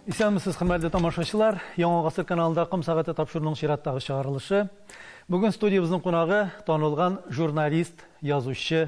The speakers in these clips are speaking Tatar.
Исәнмесез, хөрмәтле тамашачылар. Яңа гасыр каналында Ком сәгате тапшыруның чираттагы чыгарылышы. Бүген студиябезнең кунагы танылган журналист, язучы,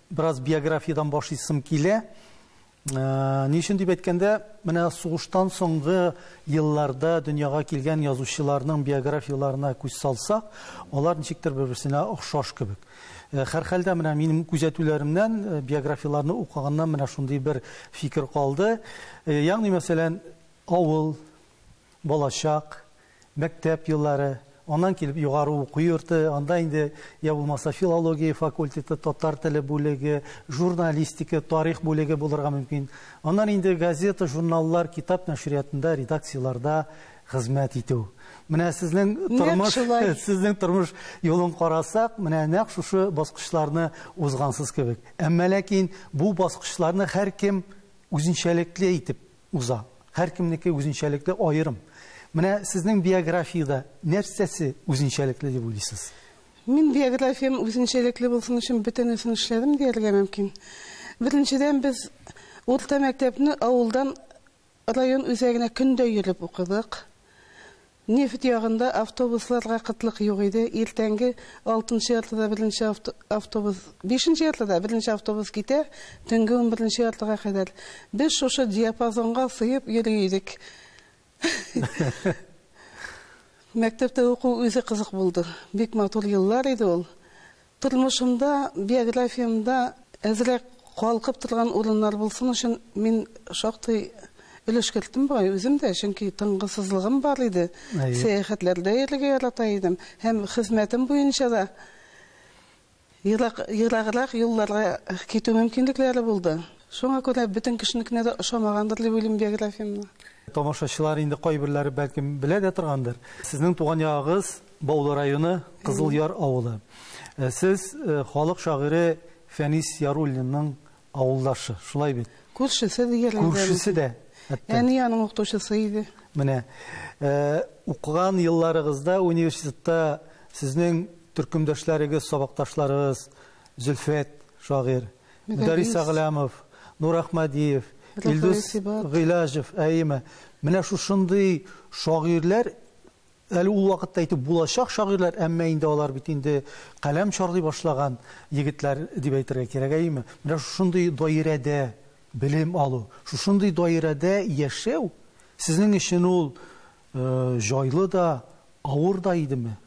Бераз биографиядән башлыйсым килә. Ни өчен дип әйткәндә, менә сугыштан соңгы елларда дөньяга килгән язучыларның биографияләренә күз салсак, алар ничектер бер-берсенә охшаш кебек. Һәрхәлдә, менә минем күзәтүләремнән, биографияләрне укыганнан менә шундый бер фикер калды. Ягъни, мәсәлән, авыл, балачак, Мәктәп еллары, аннан килеп югары уку йорты, анда инде я булмаса филология факультеты, татар теле бүлеге, журналистика, тарих бүлеге булырга мөмкин. Аннан инде газета, журналлар, китап нәшриятында, редакцияләрдә хезмәт итү. Менә сезнең тормыш, сезнең тормыш юлын карасак, менә нәкъ шушы баскычларны узгансыз кебек. Әмма ләкин бу баскычларны һәркем үзенчәлекле итеп уза. Һәркемнеке үзенчәлекле, аерым. Менә сезнең биографиядә нәрсәсе үзенчәлекле дип уйлыйсыз? Мин биографиям үзенчәлекле булсын өчен бөтенесен эшләдем дияргә мөмкин. Беренчедән, без урта мәктәпне авылдан район үзәгенә көндә йөреп укыдык. Нефть ягында автобусларга кытлык юк иде, иртәнге алтынчы яртыда беренче автобус, бишенче яртыда беренче автобус китә, төнге унберенче яртыга кадәр. Без шушы диапазонга сыеп йөри идек. Мәктәптә уку үзе кызык булды. Бик матур еллар иде ул. Тормышымда, биографиямдә әзрәк калкып торган урыннар булсын өчен мин шактый өлеш керттем бугай үзем дә, чөнки тынгысызлыгым бар иде, сәяхәтләрдә йөрергә ярата идем һәм хезмәтем буенча да ерак, ераграк юлларга китү мөмкинлекләре булды. Шуңа күрә бөтен кешенекенә дә ошамагандыр дип уйлыйм биографиямне. Тамашачылар инде кайберләре бәлкем белә дә торгандыр. Сезнең туган ягыгыз Баулы районы, Кызыл Яр авылы. Э, сез э, халык шагыйре Фәнис Яруллинның авылдашы, шулай бит? Күршесе дигәрләр. Күршесе дә. Әни аның укытучысы иде. Менә э, укыган елларыгызда университетта сезнең төркемдәшләрегез, сабакташларыгыз Зөлфәт шагыйр, Мөдәрис Аглямов, Нур Ахмадиев, Илдус Гыйлажев, әйеме. Менә шушындый шагыйрләр Әле ул вакытта итеп булачак шагыйрьләр, әмма инде алар бит инде каләм чарлый башлаган егетләр дип әйтергә кирәк, әйеме? Менә шушындый даирәдә белем алу, шушындый даирәдә яшәү сезнең өчен ул җайлы да, авыр да идеме?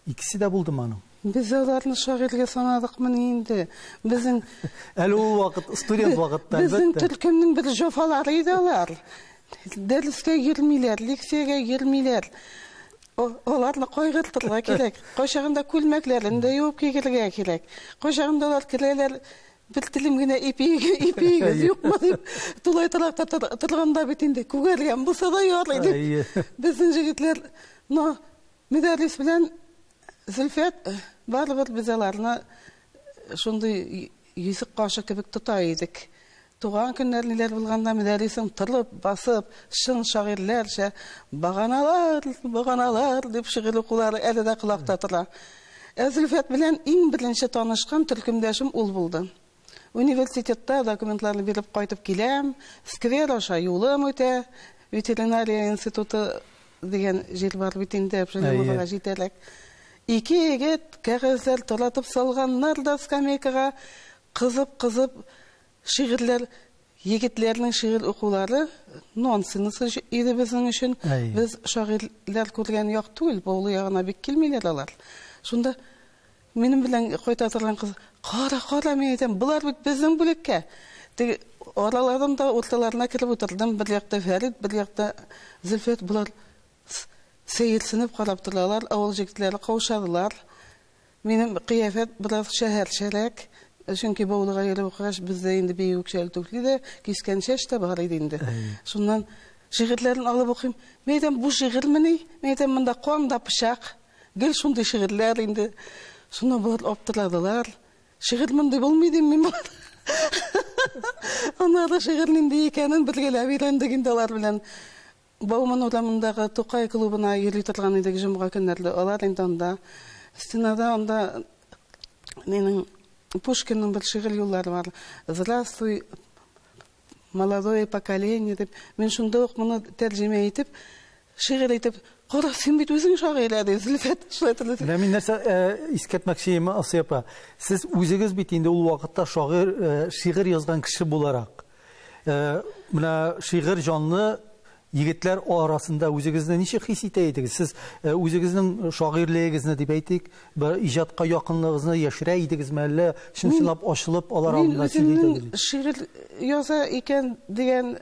Икесе дә булдымы аның? Без аларны шагыйрьгә санадыкмыни инде? Безнең Әле ул вакыт, студент вакытта, әлбәттә. Безнең төркемнең бер җофалары иде алар. Дәрескә йөрмиләр, лекциягә йөрмиләр. Аларны кайгыртырга кирәк. Кайчагында күлмәкләрен дә юып кигерергә кирәк. Кайчагында алар керәләр, бер телем генә ипиегез юкмы дип, тулай торакта торганда бит инде күгәргән булса да ярый дип, безнең җегетләр, но Мөдәррис белән Зөлфәт барыбер без аларны шундый Йөзек кашы кебек тота идек. Туган көннәрниләр булганда Мөдәррисең торып, басып, чын шагыйрьләрчә Баганалар, баганалар дип шигырь укулары әле дә колакта тора. Ә Зөлфәт белән иң беренче танышкан төркемдәшем ул булды. Университетта документларны биреп кайтып киләм, сквер аша юлым үтә, ветеринария институты Дигән җыр бар бит инде, Әбшәлимовага җитәрәк. Ике егет кәгазьләр таратып салганнар да скамейкага, кызып-кызып шигырьләр, егетләрнең шигырь укулары нонсенс иде безнең өчен. Без шагыйрьләр күргән як түгел, Баулы ягына бик килмиләр алар. Шунда Минем белән кайта торган кыз, Кара, кара, мин әйтәм, болар бит безнең бүлеккә. Теге араларын да урталарына кереп утырдым. Бер якта Фәрит, бер якта Зөлфәт. Болар сәерсенеп карап торалар. Авыл җегетләре каушадылар. Минем кыяфәт бераз шәһәрчәрәк. Чөнки Баулыга йөреп укыгач, бездә инде бию үкчәле түфли дә, кискән чәч тә бар иде инде. Шуннан шигырьләрен алып укыйм. Мин әйтәм, бу шигырьмени? Мин әйтәм, монда кан да пычак. Гел шундый шигырьләр инде. Шуны болар аптырадылар. Шигырь мондый булмый дим мин болар. Аннары шигырь нинди икәнен бергәләп өйрәндек инде алар белән. Бауман урамындагы Тукай клубына йөри торган идек җомга көннәрле. Алар инде анда стенада анда Минем Пушкинның бер шигырь юллары бар. Здравствуй, Молодое поколение дип, мин шунда ук моны тәрҗемә итеп, шигырь итеп, кара, син бит үзең шагыйрь әле, Зөлфәт, шулай торды. Менә мин нәрсә э, искәртмәкче идем, Асия апа. Сез үзегез бит инде ул вакытта шагыйрь, э, шигырь язган кеше буларак. Э, менә шигырь җанлы, Егетләр арасында үзегезне ничек хис итә идегез? Сез үзегезнең шагыйрьлегегезне дип әйтик, бер иҗатка якынлыгыгызны яшерә идегезме, әллә чын-чынлап ачылып алар алдында сөйли идегезме? Мин үземнең шигырь яза икән дигән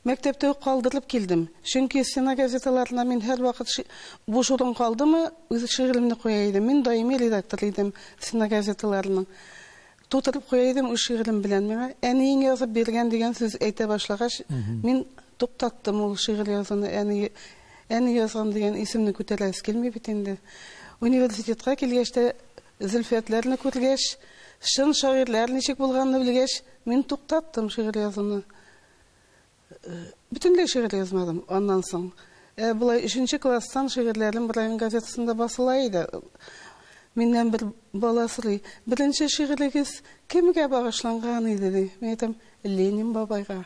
мәктәптә үк калдырып килдем. Чөнки стена газеталарына мин һәрвакыт буш урын калдымы, үз шигыремне куя идем. Мин даими редактор идем стена газеталарының. Тутырып куя идем үз шигырем белән. Миңа әниең язып биргән дигән сүз әйтә башлагач, мин туктаттым ул шигырь язуны. Әни, әни язган дигән исемне күтәрәсе килми бит инде. Университетка килгәч тә, Зөлфиятләрне күргәч, чын шагыйрьләр ничек булганны белгәч, мин туктаттым шигырь язуны. Бөтенләй шигырь язмадым аннан соң. Ә болай өченче класстан шигырьләрем район газетасында басыла иде. Миннән бер бала сорый, беренче шигырегез кемгә багышланган иде, ди. Мин әйтәм, Ленин бабайга.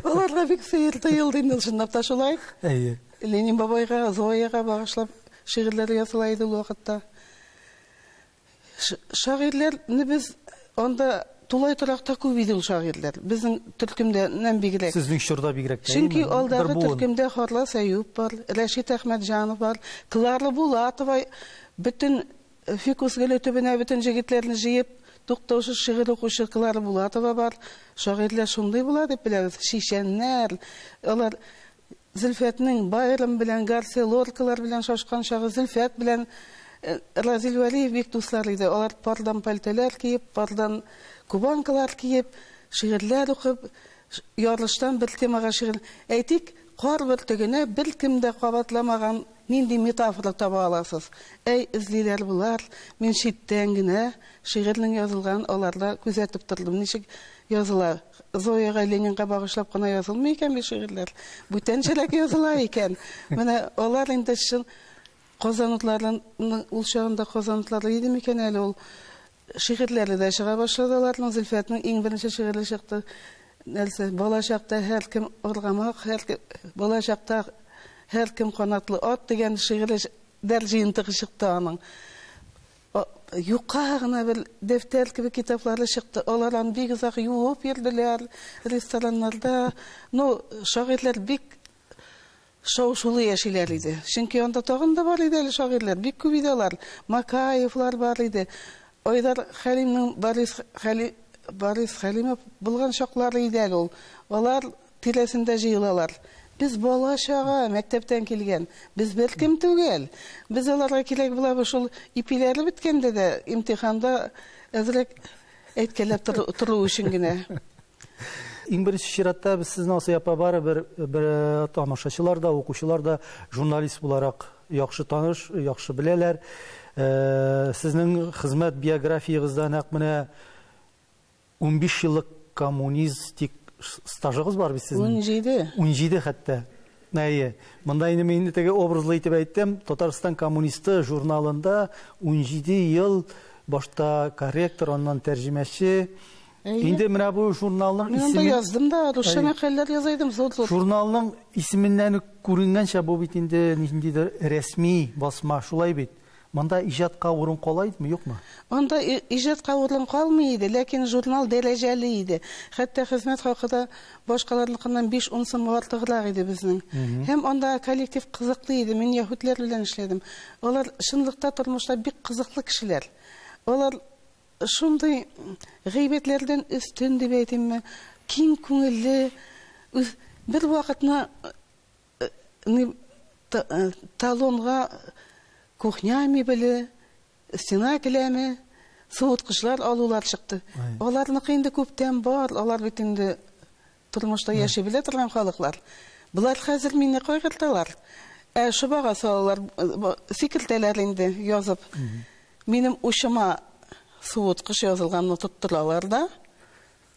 Аларга бик сәер тоелды инде, чынлап та шулай. Әйе. Ленин бабайга, Зояга багышлап шигырьләр языла иде ул вакытта. Шагыйрьләрнебез анда тулай торакта күп иде ул шагыйрьләр. Безнең төркемдәннән бигрәк. Сезнең чорда бигрәк тә. Чөнки алдагы төркемдә Харлас Әюп бар, Рәшит Әхмәтҗанов бар, Клара Булатова бөтен фикус гөле төбенә бөтен җегетләрне җыеп, туктаусыз шигырь укучы Клара Булатова бар. Шагыйрьләр шундый була дип беләбез, чичәннәр. Алар Зөлфәтнең Байрон белән, Гарсия Лоркалар белән шашкан чагы, Зөлфәт белән Разил Вәлиев бик дуслар иде. Алар пардан пальтолар киеп, пардан кубанкалар киеп, шигырьләр укып, ярыштан бер темага шигырь, әйтик, Кар бөртегенә беркем дә кабатламаган нинди метафора таба аласыз? Әй, эзлиләр болар, мин читтән генә шигырьнең язылганын аларда күзәтеп тордым, ничек языла. Зояга, Ленинга багышлап кына язылмый икән бит шигырьләр. Бүтәнчәрәк языла икән. Менә алар инде чын казанлыларның ул чагында казанлылары иде микән әле ул шигырьләре дә чыга башлады аларның. Зөлфәтнең иң беренче шигыре чыкты. Нәрсә, бала чакта һәркем аргамак, һәркем бала чакта һәркем канатлы ат дигән шигыре дәр җыентыгы чыкты аның. Юка гына бер дәфтәр кебек китаплары чыкты. Алар аны бик озак юып йөрделәр рестораннарда. Ну, шагыйрьләр бик шау-шулы яшиләр иде. Чөнки анда тагын да бар иде әле шагыйрьләр, бик күп иде алар. Макаевлар бар иде. Айдар Хәлимнең Борис Хәли Борис Хәлимов булган чаклары иде әле ул. Алар Тирәсендә җыелалар. Без бала-чага, мәктәптән килгән. Без беркем түгел. Без аларга кирәк булабыз. Шул ипиләре беткәндә дә, имтиханда әзрәк әйткәләп тору тору өчен генә. Иң беренче чиратта без сезне, Асый апа, барыбер бер тамашачылар да, укучылар да журналист буларак яхшы таныш, яхшы беләләр. Сезнең хезмәт биографиягызда нәкъ менә Унбиш еллык коммунистик стажыгыз бар бит сезнең? Унҗиде. Унҗиде хәтта. Әйе. Монда инде мин теге образлы итеп әйттем. Татарстан коммунисты журналында унҗиде ел башта корректор, аннан тәрҗемәче. Инде менә бу журналның исеме... Мин анда яздым да, русча мәкаләләр яза идем, зур-зур. Журналның исеменнән үк күренгәнчә, бу бит инде ниндидер рәсми басма, шулай бит. Монда иҗатка урын кала идме, юкмы? Анда иҗатка урын калмый иде, ләкин журнал дәрәҗәле иде. Хәтта хезмәт хакы да башкаларныкыннан биш-ун сумга артыграк иде безнең. Һәм андагы коллектив кызыклы иде. Мин яһүдләр белән эшләдем. Алар чынлыкта тормышта бик кызыклы кешеләр. Алар шундый гыйбәтләрдән өстен дип әйтимме, киң күңелле, бервакытны Ни талонга кухня мебеле, стена келәме, суыткычлар алулар чыкты. Аларныкы инде күптән бар, алар бит инде тормышта яши белә торган халыклар. Болар хәзер мине кайгырталар. Ә шубага салалар, сикертәләр инде язып. Минем учыма суыткыч язылганны тоттыралар да.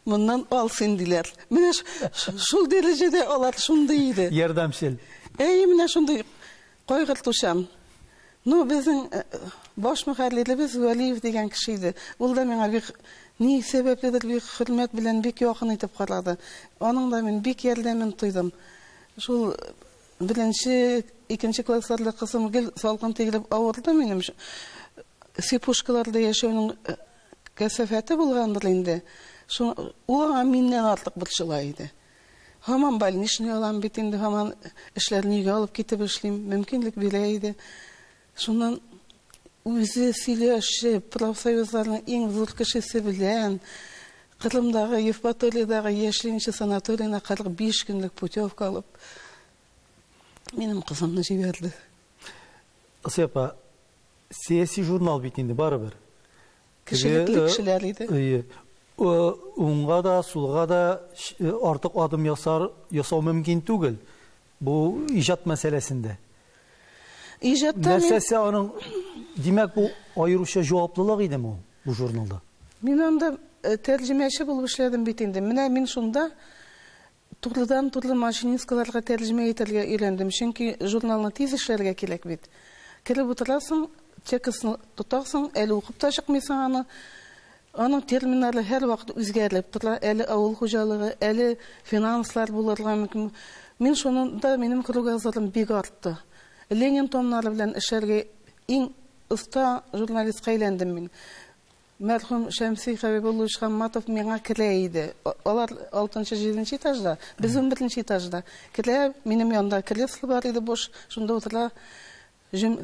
Моннан ал син, диләр. Менә шул дәрәҗәдә алар шундый иде. Ярдәмчел. Әйе, менә шундый кайгыртучан. Ну, безнең э, баш мөхәрриребез Вәлиев дигән кеше иде. Ул да миңа бик ни сәбәпледер бик хөрмәт белән бик якын итеп карады. Аның да мин бик ярдәмен тойдым. Шул беренче, икенче классларда кызым гел салкын тигреп авырды минем. Сипушкаларда яшәүнең э, Кәсафәте булгандыр инде. Шуң, ул аңа миннән артык борчыла иде. Һаман больничный алам бит инде, һаман эшләрне өйгә алып китеп эшлим, мөмкинлек бирә иде. Шуннан үзе сөйләшеп, профсоюзларның иң зур кешесе белән Кырымдагы, Евпаториядәге яшьлинче санаториена 45 көнлек путевка алып, минем кызымны җибәрде. Асия апа, сәяси журнал бит инде барыбер. Кешелекле кешеләр иде. Уңга да, сулга да артык адым ясар, ясау мөмкин түгел. Бу иҗат мәсьәләсендә. Иҗатта нәрсәсе аның димәк бу аеруча җаваплылык иде бу бу журналда. Мин анда тәрҗемәче булып эшләдем бит инде. Менә мин шунда Турыдан-туры Маҗнинскайларга тәрҗемә итәргә өйрәндем, чөнки журналны тиз эшләргә кирәк бит. Кереп утырасың, текстны тотасың, әле укып та чыкмыйсың аны. Аның терминнары һәрвакыт үзгәреп тора, әле авыл хуҗалыгы, әле финанслар булырга мөмкин. Мин шунда минем кругозорым бик артты. Ленин томнары белән эшләргә иң оста журналистка әйләндем мин. Мәрхүм Шәмси Хәбибуллович Хамматов миңа керә иде. Алар алтынчы, җиденче этажда, без унберенче этажда. Керә, минем янда кресло бар иде буш, шунда утыра. Җөм...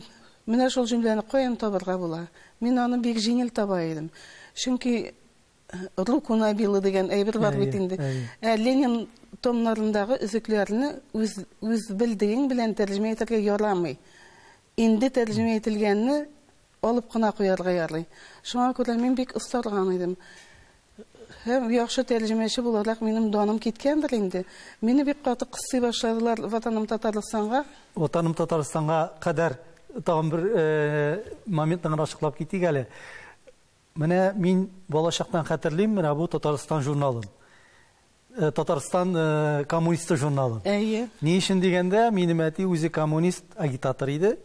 Менә шул җөмләне каян табарга була? Мин аны бик җиңел таба идем. Чөнки руку набила дигән әйбер бар бит инде. Ә Ленин томнарындагы өзекләрне үз үз белдегең белән тәрҗемә итәргә ярамый. Инде тәрҗемә ителгәнне алып кына куярга ярый. Шуңа күрә мин бик остарган идем. Һәм яхшы тәрҗемәче буларак минем даным киткәндер инде. Мине бик каты кыстый башладылар Ватаным Татарстанга. Ватаным Татарстанга кадәр тагын бер моментны гына ачыклап китик әле. Менә мин балачактан хәтерлим, менә бу Татарстан журналым. Татарстан коммунисты журналым. Әйе. Ни өчен дигәндә, минем әти үзе коммунист агитатор иде.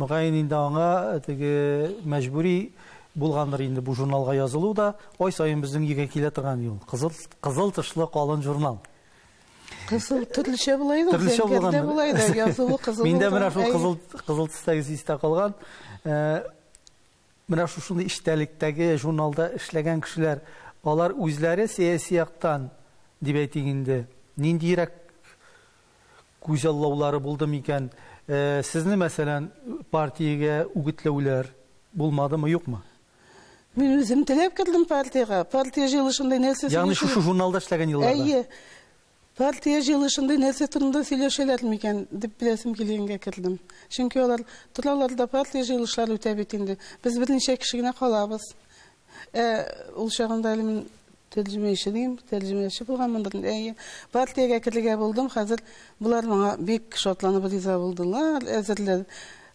Мөгаен инде аңа теге мәҗбүри булгандыр инде бу журналга язылу да, ай саен безнең өйгә килә торган юл. Кызыл, кызыл тышлы калын журнал. Кызыл төрлечә була иде, төрлечә булган. Була иде, язылу кызыл. Миндә менә шул кызыл кызыл төстәге истә калган. Менә шушындый эчтәлектәге журналда эшләгән кешеләр, алар үзләре сәяси яктан, дип әйтик инде, ниндиерәк күзаллаулары булды микән? Сезне, мәсәлән, партиягә үгетләүләр булмадымы, юкмы? Мин үзем теләп кердем партиягә. Партия җыелышында нәрсә сөйләшергә. Ягъни шушы журналда эшләгән елларда? Әйе. Партия җыелышында нәрсә турында сөйләшәләр микән, дип беләсем килгәнгә кердем. Чөнки алар, Торалар да партия җыелышлары үтә бит инде, без берничә кеше генә калабыз. Ә ул чагында әле мин тәрҗемәче дим, тәрҗемәче булганмындыр инде, әйе. Партиягә керергә булдым, хәзер болар моңа бик шатланып риза булдылар, әзерләр.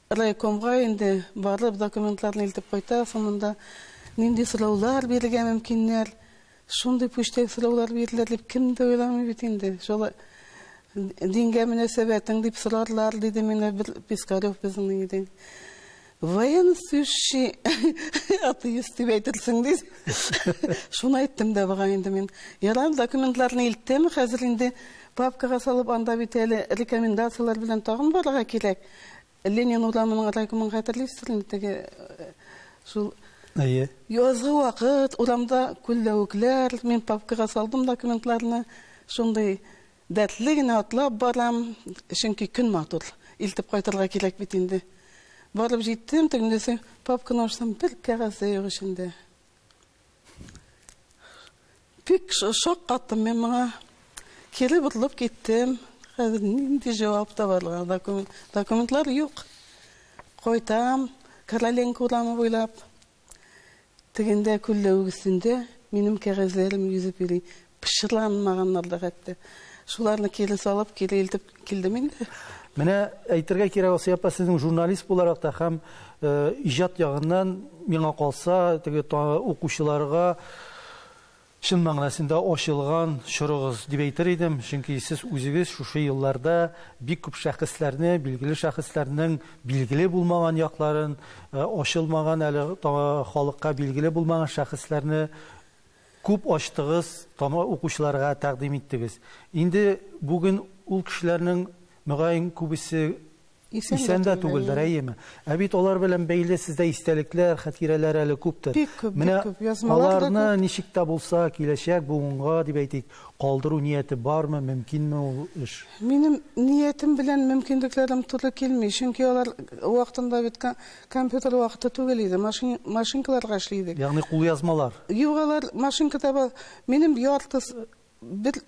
Райкомга инде барып, документларны илтеп кайта, соңында нинди сораулар бирергә мөмкиннәр, Шундый пүчтәк сораулар бирделәр дип, кем дә уйламый бит инде. Шулай дингә мөнәсәбәтең дип сорарлар, диде миңа бер Пискарев безнең иде. Военнослужащий атеист дип әйтерсең, диде. Шуны әйттем дә бага инде мин. Ярар, документларны илттем, хәзер инде папкага салып, анда бит әле рекомендацияләр белән тагын барырга кирәк. Ленин урамының райкомын хәтерлисең инде теге шул Әйе. Язгы вакыт урамда күлләвекләр, мин папкага салдым документларны, шундый дәртле генә атлап барам, чөнки көн матур, илтеп кайтырга кирәк бит инде. Барып җиттем, тегендәсе папканы ачсам, бер кәгазь дә юк эчендә. Бик шок каттым мин моңа. Кире борылып киттем. Хәзер нинди җавап табарга? Документ, документлар юк. Кайтам, Короленко урамы буйлап. Тегендә күлләвек өстендә минем кәгазьләрем йөзеп йөри. Пычранмаганнар да хәтта. Шуларны кире салып, кире илтеп килдем инде. Менә әйтергә кирәк, Асия апа, сезнең журналист буларак та һәм э, иҗат ягыннан миңа калса, теге укучыларга чын мәгънәсендә ачылган чорыгыз дип әйтер идем, чөнки сез үзегез шушы елларда бик күп шәхесләрне, билгеле шәхесләрнең билгеле булмаган якларын, э, ачылмаган әле халыкка билгеле булмаган шәхесләрне Күп ачтыгыз, тама укучыларга тәкъдим иттегез. Инде бүген ул кешеләрнең, мөгаен, күбесе исән дә түгелдер, әйеме? Ә бит алар белән бәйле сездә истәлекләр, хәтирәләр әле күптер. Бик күп, бик күп. Язмалар да күп. Менә аларны ничек тә булса, киләчәк буынга, дип әйтик, калдыру нияте бармы, мөмкинме ул эш? Минем ниятем белән мөмкинлекләрем туры килми, чөнки алар вакытында бит Компьютер вакыты түгел иде, машин, машинкаларга эшли идек. Ягъни кулъязмалар. Юк, алар машинкада бар. Минем яртыс, бер,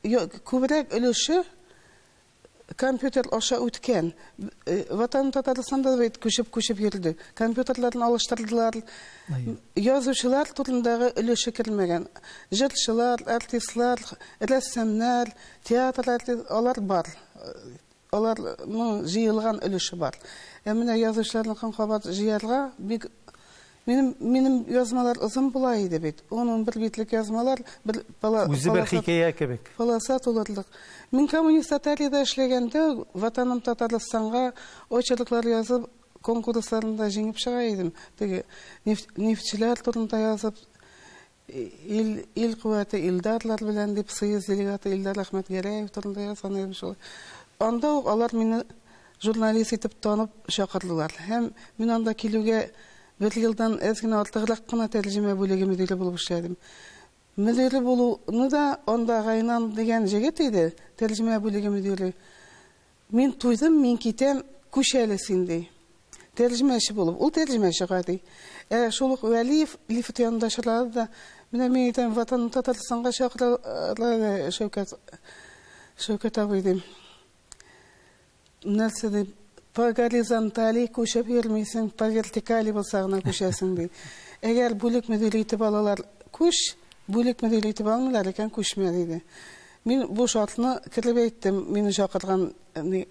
күбрәк өлеше компьютер аша үткән. Э, Ватан Татарстанда бит күчеп-күчеп йөрде. Компьютерларын алыштырдылар. Язучылар турындагы өлеше кермәгән. Җырчылар, артистлар, рәссамнар, театр артист, алар бар. Аларның җыелган өлеше бар. Ә менә язучыларныкын кабат җыярга бик Минем минем язмалар озын була иде бит. Ун-унбер битлек язмалар, бер пала Үзе бер хикәя кебек. Полоса тулырлык. Мин коммунист Татариядә эшләгәндә, Ватаным Татарстанга очерклар язып, конкурсларында җиңеп чыга идем. Теге нефть, нефтьчеләр турында язып, Ил, ил куәте Илдарлар белән, дип, Союз делегаты Илдар Әхмәтгәрәев турында язган идем шулай. Анда ук алар мине журналист итеп танып чакырдылар. Һәм мин анда килүгә бер елдан әз генә артыграк кына тәрҗемә бүлеге мөдире булып эшләдем. Мөдире булуны да анда Гайнан дигән җегет иде, тәрҗемә бүлеге мөдире. Мин туйдым, мин китәм, күч әле син, ди. Тәрҗемәче булып. Ул тәрҗемәче гади. Ә шул ук Вәлиев лифт янында очрады да, Менә мин әйтәм, Ватанны Татарстанга чакыралар әле, Шәүкәт, Шәүкәт абый, дим. Нәрсә дип, по горизонтали күчеп йөрмисең, по вертикали булса гына күчәсең, ди. Әгәр бүлек мөдире итеп алалар, күч, бүлек мөдире итеп алмыйлар икән, күчмә, диде. Мин бу шартны кереп әйттем. Мине чакырган ни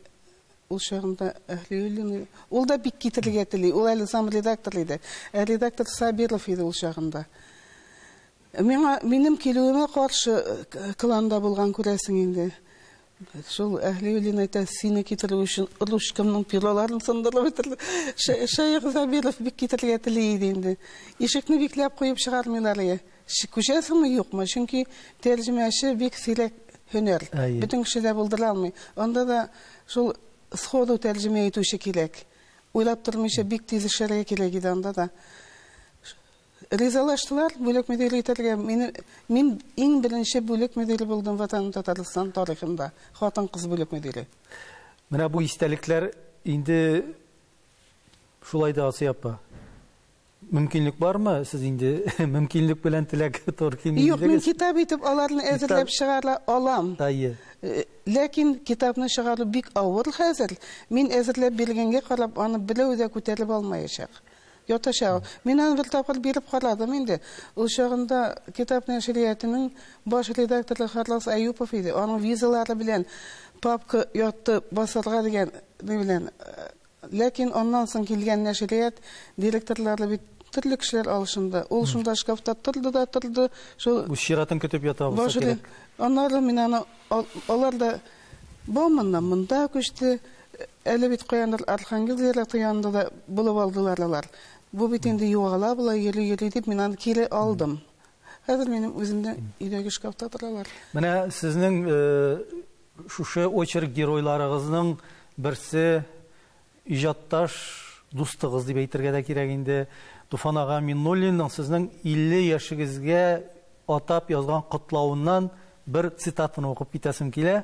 ул чагында Әһлиуллин. Ул да бик китерергә тели. Ул әле зам редактор иде. Ә редактор Сабиров иде ул чагында. Миңа минем килүемә каршы кланда булган күрәсең инде. Шул Әһлиуллин әйтә, сине китерү өчен ручкамның пероларын сындырып бетерде. Шәех Сабиров бик китерергә тели иде инде. Ишекне бикләп куеп чыгармыйлар иде. Күчәсеңме, юкмы? Чөнки тәрҗемәче бик сирәк һөнәр. Бөтен кеше дә булдыра алмый. Анда да шул сходу тәрҗемә итүче кирәк. Уйлап тормыйча бик тиз эшләргә кирәк иде анда да. Ризалаштылар, бүлек мөдире итәргә. Мине, мин иң беренче бүлек мөдире булдым Ватаным Татарстан тарихында. Хатын-кыз бүлек мөдире. Менә бу истәлекләр инде шулай да Асия апа. Мөмкинлек бармы? Сез инде мөмкинлек белән теләк тор кимидегез. Юк, мин китап итеп аларны әзерләп чыгара алам. Әйе. Э, ләкин китапны чыгару бик авыр хәзер. Мин әзерләп биргәнгә карап, аны берәү дә күтәреп алмаячак. Ятачак. Мин аны бер тапкыр биреп карадым инде. Ул чагында китап нәшриятының баш редакторы Харлас Аюпов иде. Аның визалары белән папка ятты басарга дигән белән э, Ләкин аннан соң килгән нәшрият директорлары бит төрле кешеләр алышынды. Ул шунда шкафта торды да торды. Шул Үз чиратын көтеп ята булса башли. кирәк. Аннары мин аны ал- алар да Бауманнан монда күчте. Әле бит каяндыр Архангел зираты янында да булып алдылар алар. Бу бит инде югала болай йөри-йөри дип, мин аны кире алдым. Хәзер минем үземнең өйдәге шкафта торалар. Менә сезнең э, Шушы очерк геройларыгызның берсе иҗатташ дустыгыз дип әйтергә дә кирәк инде, Туфан ага Миннуллинның сезнең 50 яшегезгә атап язган котлавыннан бер цитатаны укып китәсем килә.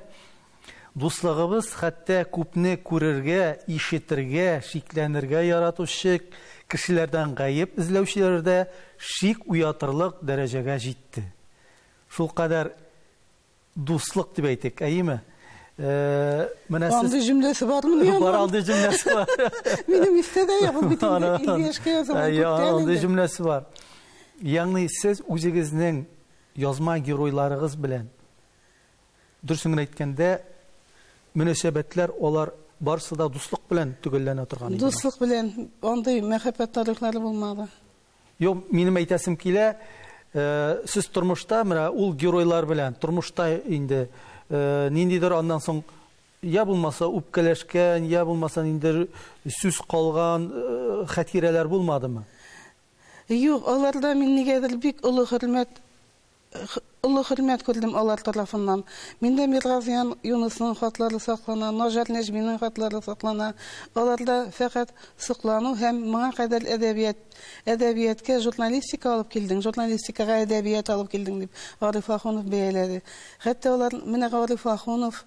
Дуслыгыбыз хәтта күпне күрергә, ишетергә, шикләнергә яратучы кешеләрдән гаеп эзләүчеләрдә шик уятырлык дәрәҗәгә җитте. Шулкадәр Дуслык дип әйтик, әйеме? Менә сез... Андый җөмләсе бармы ни аңа? Бар андый җөмләсе бар. Минем истә дә юк, бит инде 50 яшькә язылган күптән инде. Андый җөмләсе бар. Ягъни сез үзегезнең язма геройларыгыз белән дөресен генә әйткәндә мөнәсәбәтләр алар барысы да дуслык белән төгәлләнә торган иде. Дуслык белән андый мәхәббәт тарихлары булмады. Юк, минем әйтәсем килә, э, сез тормышта менә ул геройлар белән тормышта инде э, ниндидер аннан соң я булмаса үпкәләшкән, я булмаса ниндидер сүз калган э, хәтирәләр булмадымы? Юк, аларда мин нигәдер бик олы хөрмәт Олы хөрмәт күрдем алар тарафыннан. Миндә Миргазиян Юнысның хатлары саклана, Наҗар Нәҗминең хатлары саклана. Аларда фәкать соклану һәм Моңа кадәр әдәбият, әдәбияткә журналистика алып килдең, журналистикага әдәбият алып килдең, дип Гариф Ахунов бәяләде. Хәтта алар, Менә Гариф Ахунов,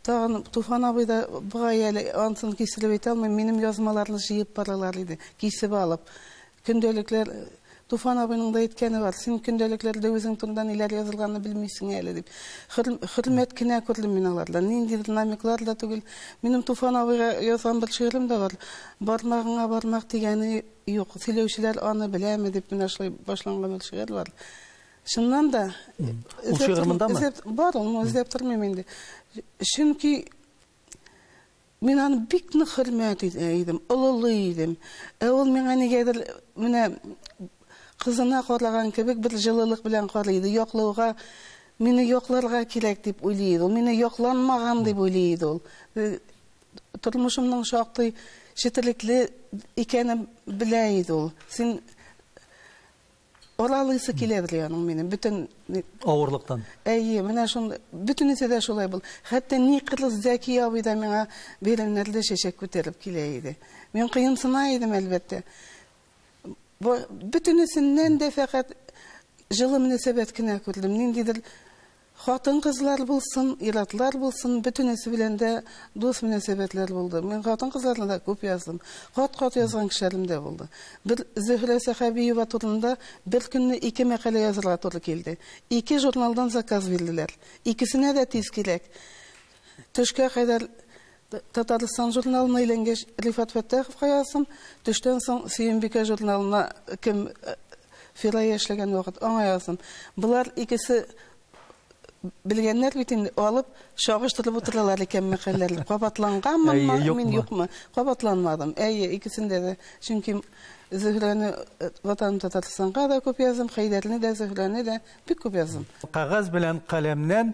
Тагын Туфан абый да бугай әле антын кистереп әйтә алмыйм, минем язмаларны җыеп баралар иде, кисеп алып. Көндәлекләр Туфан абыйның да әйткәне бар, син көндәлекләрдә үзең турында ниләр язылганны белмисең әле, дип. Хөр, хөрмәт кенә күрдем мин алардан, ниндидер намеклар да түгел. Минем Туфан абыйга язган бер шигырем дә бар, Бармагыңа бармак тигәне юк, сөйләүчеләр аны беләме, дип менә шулай башланган бер шигырь бар. Чыннан да. Ул шигырь мондамы? Бар, ул үзләп тормыйм инде. Чөнки мин аны бик нык хөрмәт итә идем, олылый идем. Ә ул миңа нигәдер менә кызына караган кебек бер җылылык белән карый иде. Яклауга мине якларга кирәк дип уйлый иде. Ул мине якланмаган дип уйлый иде ул. Э, тормышымның шактый четелекле икәнен белә иде ул. Син Оралыйсы килә бит аның минем бөтен авырлыктан. Әйе, менә шул бөтенесе дә шулай бул. Хәтта ни кырыс Зәки абый да миңа бәйрәмнәрдә чәчәк күтәреп килә иде. Мин кыенсына идем, әлбәттә. Бөтенесеннән дә фәкать җылы мөнәсәбәт кенә күрдем. Ниндидер Хатын-кызлар булсын, ир-атлар булсын, бөтенесе белән дә дус мөнәсәбәтләр булды. Мин хатын-кызларны да күп яздым. Кат-кат язган кешеләрем дә булды. Бер Зөһрә Сәхәбиева турында бер көнне ике мәкалә язырга туры килде. Ике журналдан заказ бирделәр. Икесенә дә тиз кирәк. Төшкә кадәр Татарстан журналына әйләнгәч, Рифат Фәттаховка яздым. Төштән соң Сөембикә журналына кем Фирая эшләгән вакыт, аңа яздым. Болар икесе белгәннәр бит инде, алып, чагыштырып утыралар икән мәкальләр. Кабатланганмы, мин юкмы? Кабатланмадым. Әйе, икесендә дә. Чөнки Зөһрәне Ватаным Татарстанга да күп яздым, Хәйдәрне дә, Зөһрәне дә бик күп яздым. Кәгазь белән каләмнән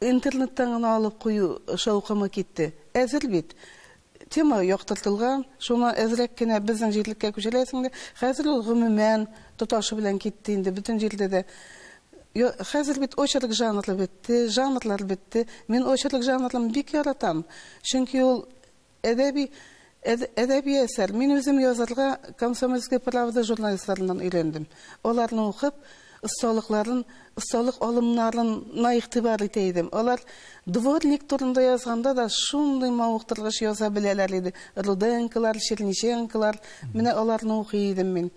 Интернеттан гына алып кую шаукымы китте. Әзер бит. Тема яктыртылган, шуны әзрәк кенә безнең җирлеккә күчерәсең дә, хәзер ул гомумән тоташы белән китте инде, бөтен җирдә дә. Йо, хәзер бит очерк жанры бетте, жанрлар бетте. Мин очерк жанрын бик яратам, чөнки ул Әдәби әд әдәби әсәр. Мин үзем язарга Комсомольская правда журналистларыннан өйрәндем. Аларны укып, осталыкларын, осталык алымнарын на игътибар итә идем. Алар дворник турында язганда да шундый мавыктыргыч яза беләләр иде. Руденколар, Черниченколар, менә аларны укый идем мин.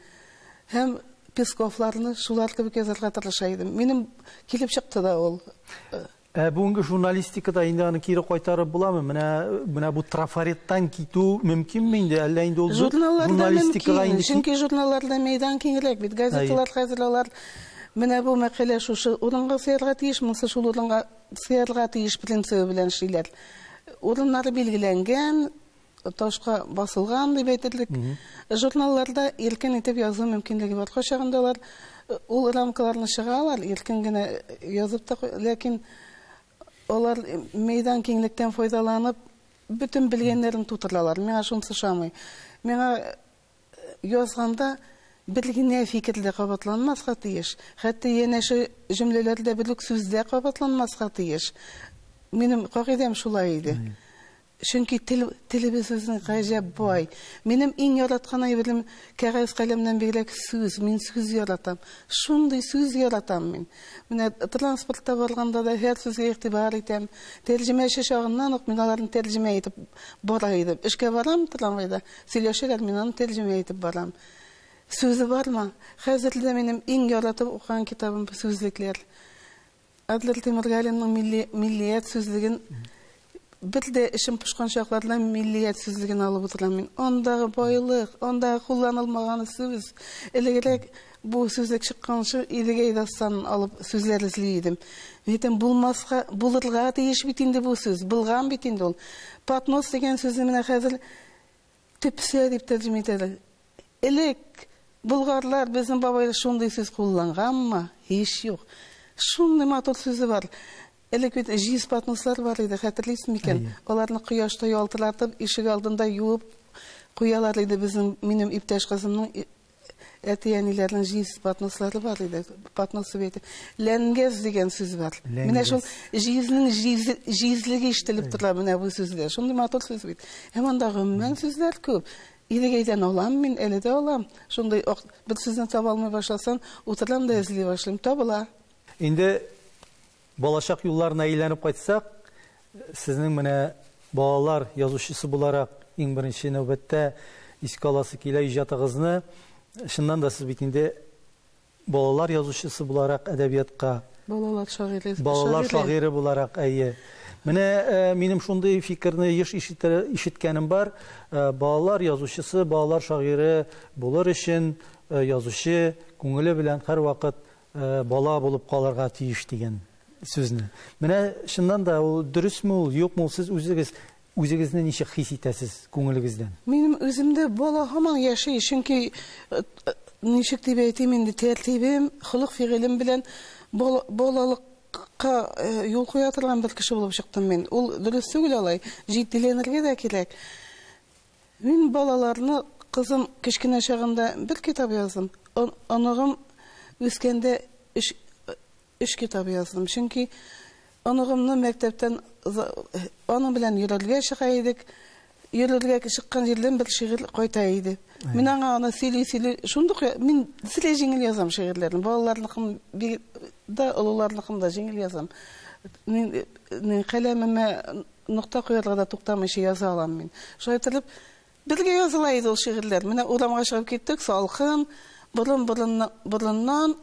Һәм Песковларны шулар кебек язарга тырыша идем. Минем килеп чыкты да ул. Ә бүгенге журналистикада инде аны кире кайтарып буламы? Менә менә бу трафареттан китү мөмкинме инде? Әллә инде ул журналистикага инде мөмкин, чөнки журналларда мәйдан киңрәк бит. Газеталар хәзер алар менә бу мәкалә шушы урынга сыярга тиеш, монысы шул урынга сыярга тиеш принцибы белән эшлиләр. Урыннары билгеләнгән, ташка басылган дип әйтерлек журналларда иркен итеп язу мөмкинлеге бар. Кайчагында алар э, ул рамкаларны чыгалар, иркен генә э, язып та, ләкин алар э, мәйдан киңлектән файдаланып, бөтен белгәннәрен тутыралар. Миңа шунысы шамый. Миңа язганда бер генә фикердә кабатланмаска тиеш. Хәтта янәшә җөмләләрдә бер үк сүздә кабатланмаска тиеш. Минем кагыйдәм шулай иде. Чөнки тел, телебез безнең гаҗәп бай. Минем иң яраткан әйберем кәгазь-каләмнән бигрәк сүз. Мин сүз яратам. Шундый сүз яратам мин. Менә транспортта барганда да һәр сүзгә игътибар итәм. Тәрҗемәче чагыннан ук мин аларны тәрҗемә итеп бара идем. Эшкә барам трамвайда, сөйләшәләр, мин аны тәрҗемә итеп барам. Сүзе бармы? Хәзер дә минем иң яратып укыган китабым сүзлекләр. Адлер Тимергалинның милли, миллият сүзлеген бер дә эшем пошкан чакларда миллият сүзлеген алып утырам мин. Андагы байлык, андагы кулланылмаган сүз. Элегрәк бу сүзлек чыкканчы Идегәй дастанын алып сүзләр эзли идем. Мин әйтәм, булмаска, булырга тиеш бит инде бу сүз. Булган бит инде ул. Поднос дигән сүзне менә хәзер Тепсә дип тәрҗемә итәләр. Элек болгарлар безнең бабайлар шундый сүз кулланганмы? Һич юк. Шундый матур сүзе бар. Элек бит җиз поднослар бар иде, хәтерлисез микән? Аларны кояшта ялтыратып, ишек алдында юып куялар иде безнең минем иптәш кызымның әти-әниләрнең җиз поднослары бар иде. Поднос дип әйтә. Ләнгез дигән сүз бар. Ләнгез. Менә шул җизнең җиз, җизлеге ишетелеп тора менә бу сүздә. Шундый матур сүз бит. Һәм анда гомумән сүзләр күп. Идегәйдән алам мин, әле дә алам. Шундый ак, бер сүзне таба алмый башласам, утырам да эзли башлыйм. Табыла. Инде Балачак юлларына әйләнеп кайтсак, сезнең менә балалар язучысы буларак иң беренче нәүбәттә искә аласы килә иҗатыгызны. Чыннан да сез бит инде балалар язучысы буларак әдәбиятка, Балалар шагыйре, балалар шагыйре буларак, әйе. Менә минем шундый фикерне еш ишеткәнем бар, балалар язучысы, балалар шагыйре булыр өчен язучы күңеле белән һәрвакыт бала булып калырга тиеш дигән сүзне. Менә чыннан да ул дөресме ул, юкмы ул, сез үзегез үзегезне ничек хис итәсез күңелегездән? Минем үземдә бала һаман яши, чөнки ничек дип әйтим инде, тәртибем, холык-фигылем белән балалык ка юл куя торган бер кеше булып чыктым мин. Ул дөрес түгел алай, җитдиләнергә дә кирәк. Мин балаларны, кызым кечкенә чагында бер китап яздым, оныгым үскәндә өч өч китап яздым. Чөнки оныгымны мәктәптән аның белән йөрергә чыга идек. Йөрергә чыккан җирдән бер шигырь кайта иде. Мин аңа аны сөйли-сөйли, шундук мин бөтенләй җиңел язам шигырьләрне. Балаларныкын да, олыларныкын да җиңел язам. Мин каләмемә Нокта куярга да туктамыйча яза алам мин. Шулай иттереп, бергә языла иде ул шигырьләр. Менә урамга чыгып киттек, салкын, борын, борын, борыннан,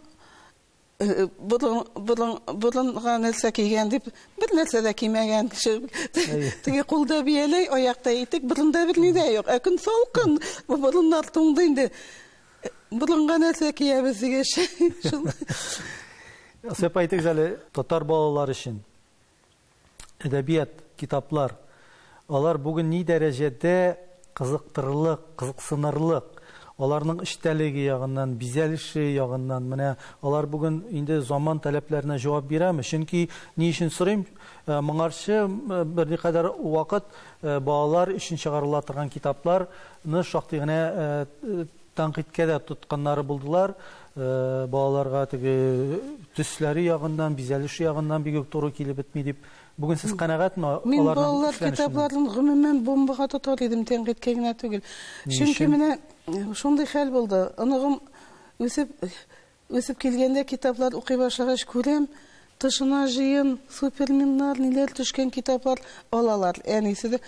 борын, борын, борынга нәрсә кигән дип, бер нәрсә дә кимәгән. Теге кулда бияләй, аякта итек, борында берни дә юк. Ә көн салкын, бу борыннар туңды инде. Борынга нәрсә киябез дигәч, шул. Сәпәйтегез әле татар балалары өчен. Әдәбият, китаплар. Алар бүген ни дәрәҗәдә кызыктырырлык, кызыксынырлык, аларның эчтәлеге ягыннан, бизәлеше ягыннан, менә алар бүген инде заман таләпләренә җавап бирәме? Чөнки ни өчен сорыйм, моңарчы берникадәр вакыт балалар өчен чыгарыла торган китапларны шактый гына Тәнкыйтькә дә тотканнары булдылар. Балаларга теге төсләре ягыннан, бизәлеше ягыннан бик үк туры килеп бетми дип. Бүген сез канәгатьме аларның эшләнешеннән? Мин балалар китапларын гомумән бомбага тотар идем, тәнкыйтькә генә түгел. Чөнки менә шундый хәл булды. Оныгым үсеп Үсеп килгәндә китаплар укый башлагач күрәм, тышына җыен, суперменнар, ниләр төшкән китаплар алалар. Әнисе дә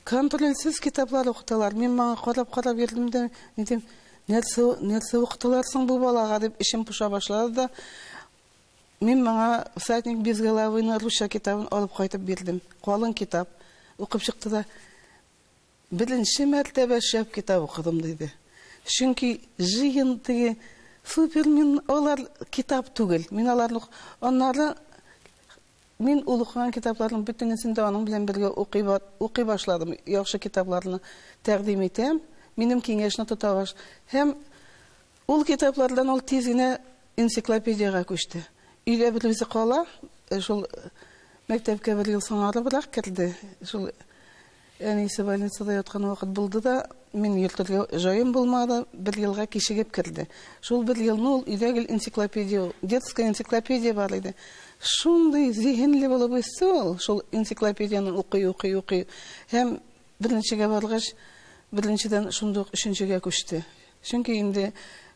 контрольсез китаплар укыталар. Мин моңа карап-карап йөрдем дә, ни дим, нәрсә, нәрсә укыталар соң бу балага дип эчем поша башлады да, мин моңа Всадник без головыйның русча китабын алып кайтып бирдем. Калын китап. Укып чыкты да, Беренче мәртәбә шәп китап укыдым, диде. Чөнки җыен теге супер, мин алар китап түгел. Мин аларны ук... Аннары мин ул укыган китапларның бөтенесен дә аның белән бергә укый ба, укый башладым. Яхшы китапларны тәкъдим итәм, минем киңәшне тота баш. Һәм ул китаплардан ул тиз генә энциклопедиягә күчте. Өйдә бер үзе кала, шул мәктәпкә бер ел соңарыбрак керде, шул. Әнисе больницада яткан вакыт булды да, мин йөртергә җаем булмады, бер елга кичегеп керде. Шул бер елны ул өйдә гел энциклопедия, детская энциклопедия бар иде. Шундый зиһенле булып үсте ул, шул энциклопедияне укый, укый, укый. Һәм беренчегә баргач, беренчедән шундук өченчегә күчте. Чөнки инде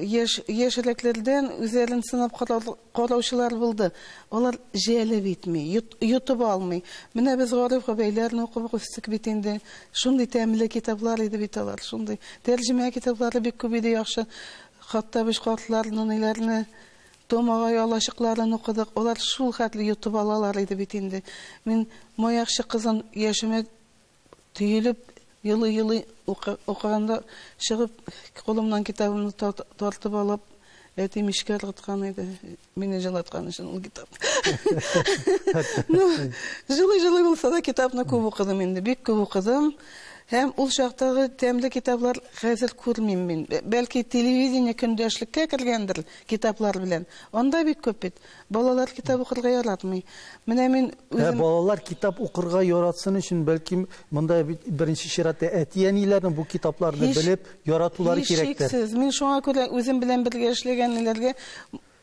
Яшь, яшьрәкләрдән үзләрен сынап караучылар булды. Алар җәлеп итми, йотып алмый. Менә без Гариф Гобәйләрне укып үстек бит инде. Шундый тәмле китаплар иде бит алар, шундый. Тәрҗемә китаплары бик күп иде, яхшы. Хатта без картлар, нуниләрне, Том агай алачыкларын укыдык. Алар шул хәтле йотып алалар иде бит инде. Мин Маякчы кызын яшемә Төелеп елый-елый укыганда чыгып, кулымнан китабымны тартып алып, әтим эшкә ыргыткан иде. Мине җылаткан өчен ул китап. Ну, җылый-җылый булса да китапны күп укыдым инде, бик күп укыдым. Һәм ул чактагы тәмле китаплар хәзер күрмим мин. Бәлки телевидение көндәшлеккә кергәндер китаплар белән. Анда бик күп бит. Балалар китап укырга яратмый. Менә мин үзем... Ә балалар китап укырга яратсын өчен, бәлки, монда беренче чиратта әти-әниләрнең бу китапларны белеп, яратулары кирәктер. Һичшиксез. Мин шуңа күрә үзем белән бергә эшләгәннәргә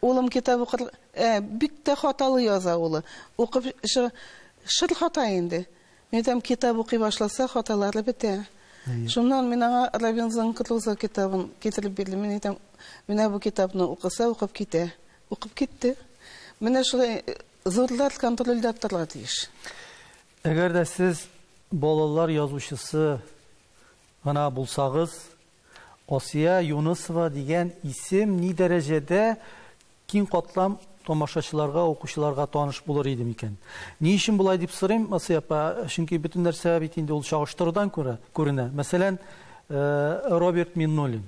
улым китап укыр... Ә, бик тә хаталы яза улы. Укып шыр, шыр хата инде. Мин әйтәм, китап укый башласа, хаталары бетә. Шуннан мин аңа Робинзон Крузо китабын китереп бирдем. Мин әйтәм, менә бу китапны укыса, укып китә. Укып китте. Менә шулай зурлар контрольдә торырга тиеш. Әгәр дә сез балалар язучысы гына булсагыз, Асия Юнысова дигән исем ни дәрәҗәдә киң катлам тамашачыларга, укучыларга таныш булыр иде микән? Ни өчен болай дип сорыйм, Асия апа? Чөнки бөтен нәрсә бит инде ул чагыштырудан күрә күренә. Мәсәлән, э, Роберт Миннуллин.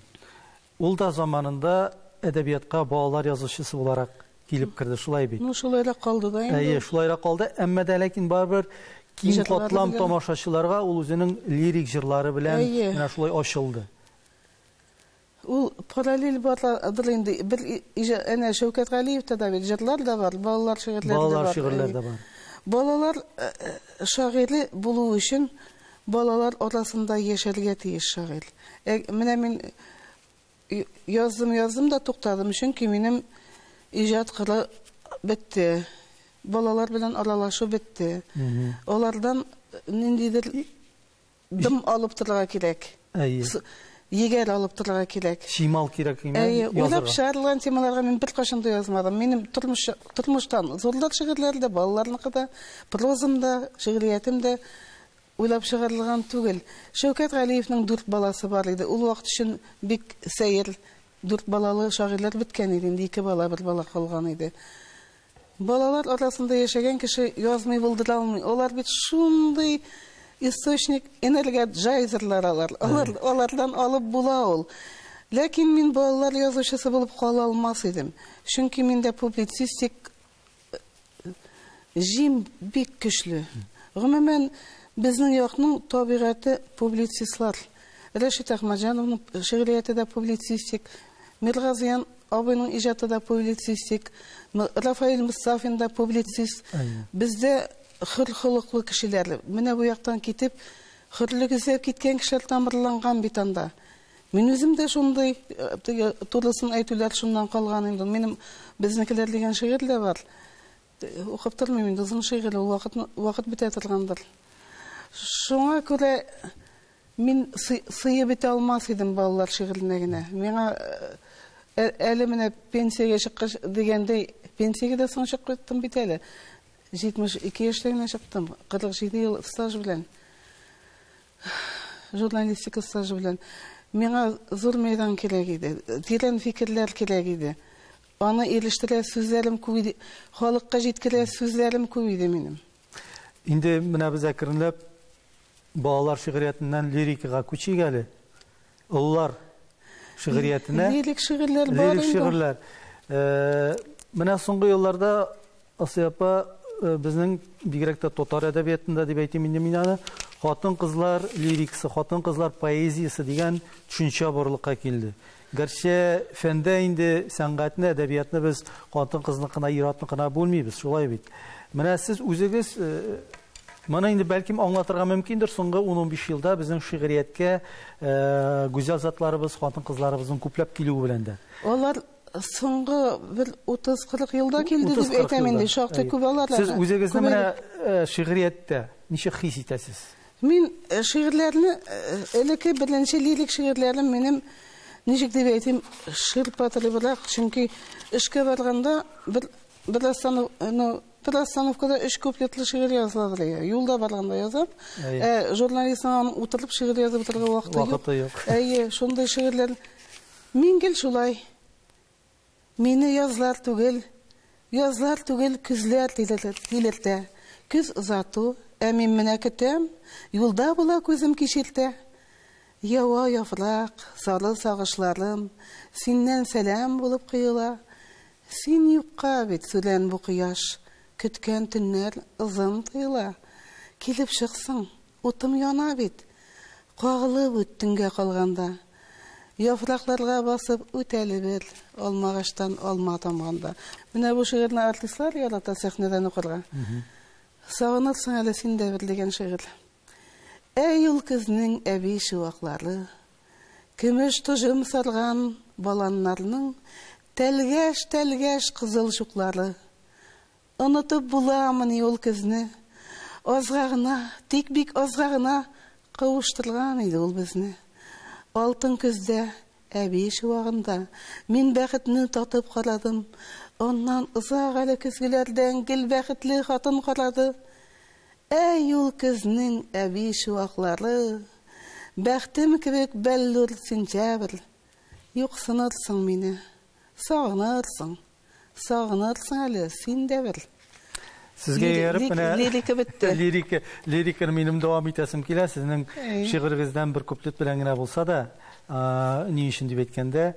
Ул да заманында әдәбиятка балалар язучысы буларак килеп керде, шулай бит? Ну, шулай да калды да инде. Әйе, шулай да калды, әмма дә ләкин барыбер киң катлам тамашачыларга ул үзенең лирик җырлары белән менә шулай ачылды. Ул параллель бардыр инде. Бер әнә Шәүкәт Галиевта да бит җырлар да бар, балалар шигырьләре дә бар. Балалар шигырьләре дә бар. Балалар шагыйре булу өчен Балалар арасында яшәргә тиеш шагыйрь. Ә менә мин яздым, яздым да туктадым, чөнки минем иҗат кыры бетте. Балалар белән аралашу бетте. Алардан ниндидер дым алып торырга кирәк. Әйе. Егәр алып торырга кирәк. Чимал кирәк име? Әйе, уйлап чыгарылган темаларга мин беркайчан да язмадым. Минем тормыш тормыштан зурлык шигырьләре дә, балаларныкы да, прозам да, шигъриятем дә уйлап чыгарылган түгел. Шәүкәт Галиевның дүрт баласы бар иде. Ул вакыт өчен бик сәер дүрт балалы шагыйрьләр беткән иде. Инде ике бала, бер бала калган иде. Балалар арасында яшәгән кеше язмый булдыра алмый. Алар бит шундый источник энергия джайзерлар алар. Алар алардан алып була ул. Ләкин мин балалар язучысы булып кала алмас идем. Чөнки миндә публицистик җим бик көчле. Гомумән, безнең якның табигате публицистлар. Рәшит Әхмәтҗановның шигърияте дә публицистик, Миргазыян абыйның иҗаты да публицистик, Рафаэль Мостафин да публицист. Бездә хөр холыклы кешеләр, менә бу яктан китеп, хөрлек эзләп киткән кешеләр тамырланган бит анда. Мин үзем дә шундый, теге турысын әйтүләр шуннан калган инде. Минем безнекеләр дигән шигырь дә бар. Укып тормыйм инде озын шигырь, ул вакыт, вакыт бетә торгандыр. Шуңа күрә мин сыеп бетә алмас идем балалар шигыренә генә. Миңа э, ә, әле менә пенсиягә чыккач дигәндәй, пенсиягә дә соң чыктым бит әле. 72 яшьтә генә чыктым, 47 ел стаж белән. Журналистика стажы белән. Миңа зур мәйдан кирәк иде, тирән фикерләр кирәк иде. Аны ирештерә сүзләрем күп иде, халыкка җиткерә сүзләрем күп иде минем. Инде менә без әкренләп балалар шигъриятеннән лирикага күчик әле. Олылар шигъриятенә. Лирик шигырьләр бар. Лирик шигырьләр. Э, менә соңгы елларда Асия апа, безнең, бигрәк тә татар әдәбиятында дип әйтим инде мин аны, хатын-кызлар лирикасы, хатын-кызлар поэзиясе дигән төшенчә барлыкка килде. Гәрчә фәндә инде сәнгатьне, әдәбиятны без хатын-кызныкына, ир-атныкына бүлмибез, шулай бит. Менә сез үзегез Моны инде бәлкем аңлатырга мөмкиндер, соңгы 10-15 елда безнең шигърияткә гүзәл затларыбыз, хатын-кызларыбызның күпләп килүе белән дә. Алар соңгы бер 30-40 елда килде дип әйтәм инде, шактый күп алар. Сез үзегезне менә э, шигърияттә ничек хис итәсез? Мин э, шигырьләрне э, элекке беренче лирик шигырьләрем минем ничек дип әйтим, ширпатырыбрак, чөнки эшкә барганда бер бер останов, ну, бер остановкада өч куплетлы шигырь язылады лия. Юлда барганда язам. Ә журналистның утырып шигырь язып утырган вакыты юк. Вакыты юк. Әйе, шундый шигырьләр Мин гел шулай. Мине язлар түгел, язлар түгел, көзләр тилертә. Көз озату, ә мин менә көтәм, юлда була күзем кичертә. Ява яфрак, сары сагышларым, синнән сәлам булып коела. Син юкка бит сүрән бу кояш, көткән төннәр озын тоела. Килеп чыксың, утым яна бит, кагылып үт төнгә калганда. Яфракларга басып үтәлебез. Алмагачтан алма тамганда. Менә бу шигырьне артистлар ярата сәхнәдән укырга. Сагынырсың әле син дә бер дигән шигырь. Әй ул көзнең әби чуаклары, Көмеш тоҗым сарган баланнарның Тәлгәш-тәлгәш кызыл чуклары. Онытып буламыни ул көзне? Азга гына, тик бик азга гына Кавыштырган иде ул безне. Алтын көздә, әби чуагында Мин бәхетне татып карадым. Аннан озак әле көзгеләрдән Гел бәхетле хатын карады. Әй ул көзнең әби чуаклары! Бәхтем кебек бәллүр сентябрь, Юксынырсың мине Сагынырсың. Сагынырсың әле, син дә бер. Сезгә ияреп менә лирика бетте. Лирика, лириканы минем дәвам итәсем килә. Сезнең шигырегездән бер куплет белән генә булса да, ни өчен дип әйткәндә,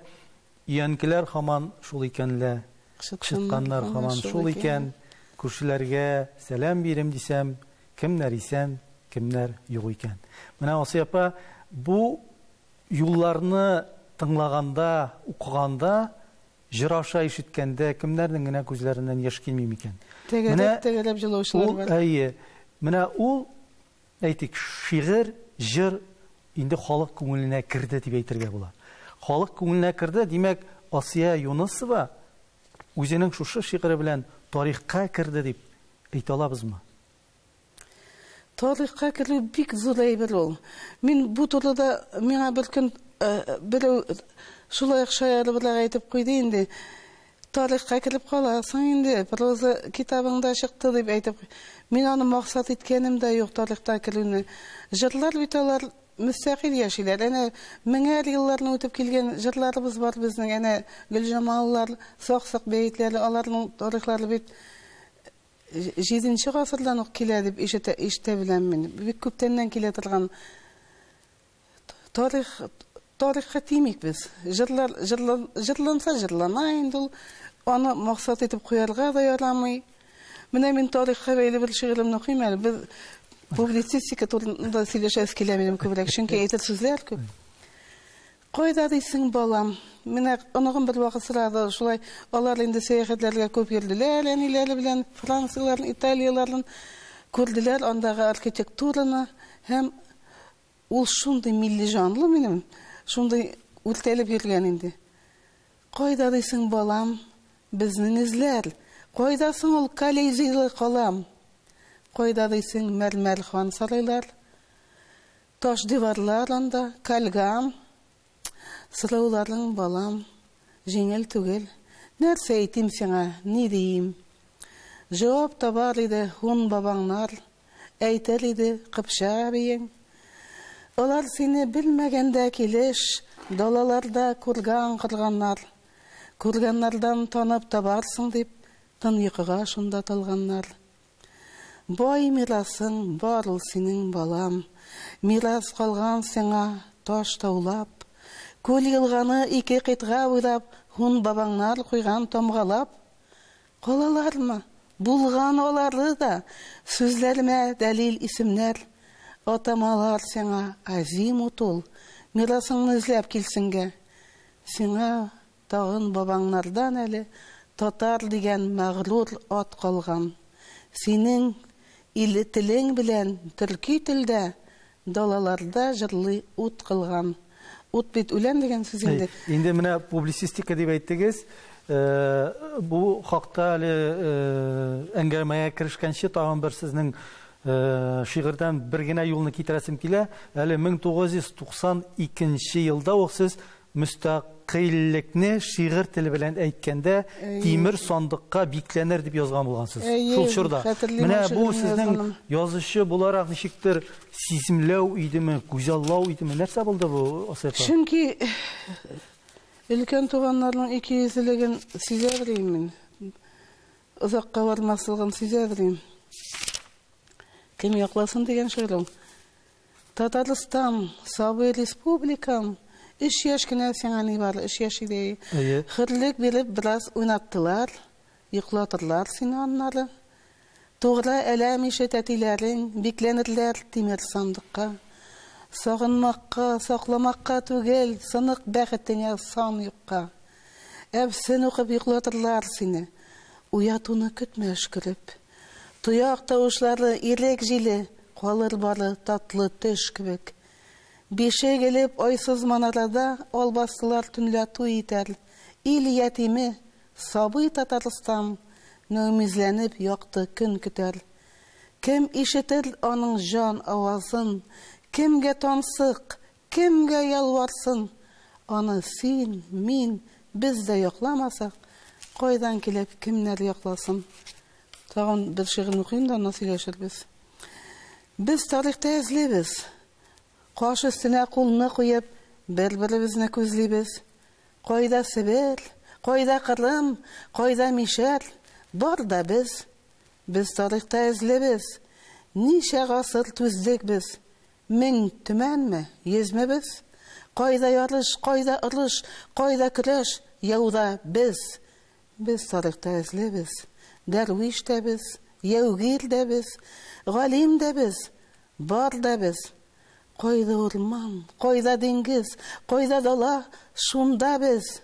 өянкеләр хаман шул икән лә, чыкканнар хаман шул икән, күршеләргә сәлам бирем дисәм, кемнәр исән, кемнәр юк икән. Менә Асия апа, бу Юлларны тыңлаганда, укыганда, җыр аша ишеткәндә кемнәрнең генә күзләреннән яшь килми микән? Тәгәрәп-тәгәрәп җылаучылар бар. Әйе. Менә ул, әйтик, шигырь, җыр инде халык күңеленә керде дип әйтергә була. Халык күңеленә керде, димәк, Асия Юнысова үзенең шушы шигыре белән тарихка керде дип әйтә алабызмы? Тарихка керү бик зур әйбер ул. Мин бу турыда миңа бер көн берәү шулай ук шаярыбрак әйтеп куйды инде. Тарихка кереп каласың инде, проза китабыңда чыкты дип әйтеп. Мин аны максат иткәнем дә юк тарихта керүне. Җырлар бит алар мөстәкыйль яшиләр. Әнә меңәр елларны үтеп килгән җырларыбыз бар безнең. Әнә Гөлҗамаллар, Саксык бәетләре, аларның тарихлары бит Җиденче гасырдан ук килә дип ишетә, ишетә беләм мин. Бик күптәннән килә торган тарих, тарихка тимик без. Җырлар, җырлан, җырланса җырлана инде ул. Аны максат итеп куярга да ярамый. Менә мин тарихка бәйле бер шигыремне укыйм әле. Без публицистика турында сөйләшәбез килә минем күбрәк, чөнки әйтер сүзләр күп. Кайда дисең, балам? Менә оныгым бервакыт сорады, шулай алар инде сәяхәтләргә күп йөрделәр, әниләре белән Францияләрен, Италияләрен күрделәр, андагы архитектураны һәм ул шундый милли җанлы минем, шундый үртәлеп йөргән инде. Кайда дисең, балам, безнең эзләр? Кайда соң ул Колизейлы калам? Кайда дисең, мәрмәр хан сарайлар? Таш диварлар анда, кальгам. Сорауларың, балам, җиңел түгел. Нәрсә әйтим сиңа, ни диим? Җавап табар иде һун бабаңнар, Әйтер иде Кыпчак әбиең. Алар сине белмәгәндә килеш, Далаларда күргән кырганнар. Күргәннәрдән танып табарсың дип, Тын йокыга шунда талганнар. Бай мирасың бар ул синең, балам, Мирас калган сиңа таш-таулап, Күл-елганы ике кыйтга буйлап Һун бабаңнар куйган тамгалап. Калалармы? Булган алары да, Сүзләремә дәлил исемнәр. Атамалар сиңа азимут ул, Мирасыңны эзләп килсенгә. Сиңа Тагын бабаңнардан әле татар дигән мәгърур ат калган. Синең ил телең белән төрки телдә далаларда җырлый ут кылган. Ут бит үлән дигән сүз инде. Инде менә публицистика дип әйттегез. Бу хакта әле әңгәмәгә керешкәнче тагын бер сезнең шигырьдән бер генә юлны китерәсем килә. Әле 1992 елда ук сез Мөстәкыйльлекне шигырь теле белән әйткәндә тимер сандыкка бикләнер дип язган булгансыз. Шул чорда. Менә бу сезнең язучы буларак ничектер сиземләү идеме, күзаллау идеме, нәрсә булды бу Асыйфа? Чөнки өлкән туганнарның икейөзлелеген сизә белим мин. Озакка бармаслыгын сизә белим. Кем якласын дигән шигырем. Татарстан, сабый республикам, өч яшь кенә сиңа ни бар, өч яшь иде. Әйе. Хөрлек биреп бераз уйнаттылар, йоклатырлар сине аннары. Тугра әләм ише тәтиләрең, бикләнерләр тимер сандыкка. Сагынмакка, сакламакка түгел, сынык бәхетеңә сан юкка. Әфсен укып йоклатырлар сине, уятуны көтмә өшкереп. Тояк тавышлары, ирек җиле, Калыр бары татлы төш кебек. Бишек элеп айсыз манарада Албастылар төнлә туй итәр. Ил ятиме, сабый Татарстан Нөмизләнеп якты көн көтәр. Кем ишетер аның җан авазын, Кемгә тансык, Кемгә ялварсын аны син, мин, без дә якламасак, кайдан килеп, кемнәр якласын? Тагын бер шигырен укыйм да, аннан сөйләшербез. Без тарихта эзлибез. Каш өстенә кулны куеп, бер-беребезне күзлибез. Кайда Себер, кайда Кырым, кайда мишәр, бар да без. Без тарихта эзлебез. Ничә гасыр түздек без. Мең төмәнме, йөзме без? Кайда ярыш, кайда орыш, Кайда көрәш, яуда без? Без тарихта эзле без, Дәрвиш тә без, яугир дә без, Галим дә без, бар да без. Кайда урман, кайда диңгез, Кайда дала, шунда без.